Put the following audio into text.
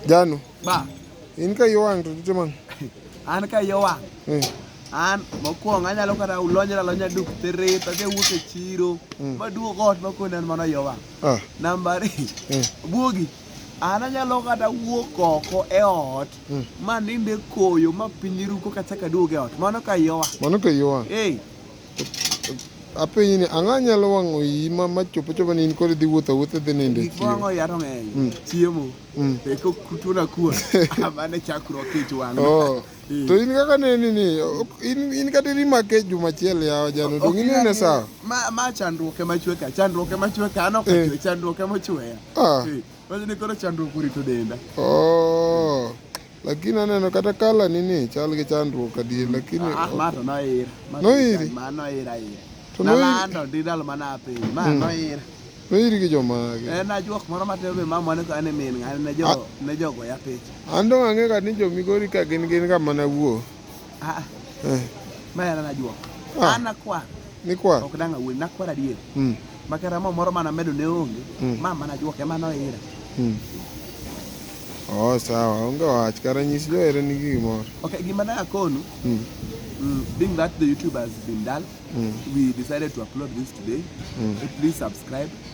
Janu. Ba. In ka yowang to tije man. An ka yowang. Eh. An mokwongo anyalo kata ulonyra lonya duk tirit adhi wuok e chiro mm. maduog ot makonen mano yowang. Ah. Namba ari. Eh. Buogi. An anyalo kata wuok oko e ot mm. ma ninde koyo ma piny ruko kachaka duog e ot. Mano ka yowang. Mano ka yowang. Eh. apenyi ni ang'a nyalo wang'o iyi ma ma chopo chopo ni in kod dhi wuotho wuotho dhi nindo e chiemo wang'o yaro ng'eny mm. chiemo mm. e ko kuto na kuwa amane chakro kich wang'o oh. to in kaka ne ni ni in in kata ri ma ke juma chiel ya jano to ngine ne sa ma ma chandruoke ma chwe ka chandruoke ma chwe ka no ka eh. chwe chandruoke ma chwe ya ah. eh. Wajini koro chandruok urito denda. Oh. Lakini aneno kata kala ni ni chal gi chandruok adier lakini ah, ma to noir noir ma noir air to noir nalando ndi dal mana piny ma hmm. noir noir gi joma gi en ajuok moro matero be mama ne ka ne min ng'ani ne jo ah. ne jogo ya picha an to ang'e ka ni jo migori ka gin gin ka mana wuo Ah, ah. Eh. Maya anajua. Ah. Ana kwa. Ni kwa. Ok danga wuoyi, nakwara adier. Mm. Makara mo moro mana medo ne onge. Mm. Mama anajua kema noira. Mm. Oh, sawa. Onge wach kara nyis jo ere ni gimoro. Okay, gima na akonu. Mm. Mm, being that the YouTube has been done, mm. we decided to upload this today. Mm. Please subscribe.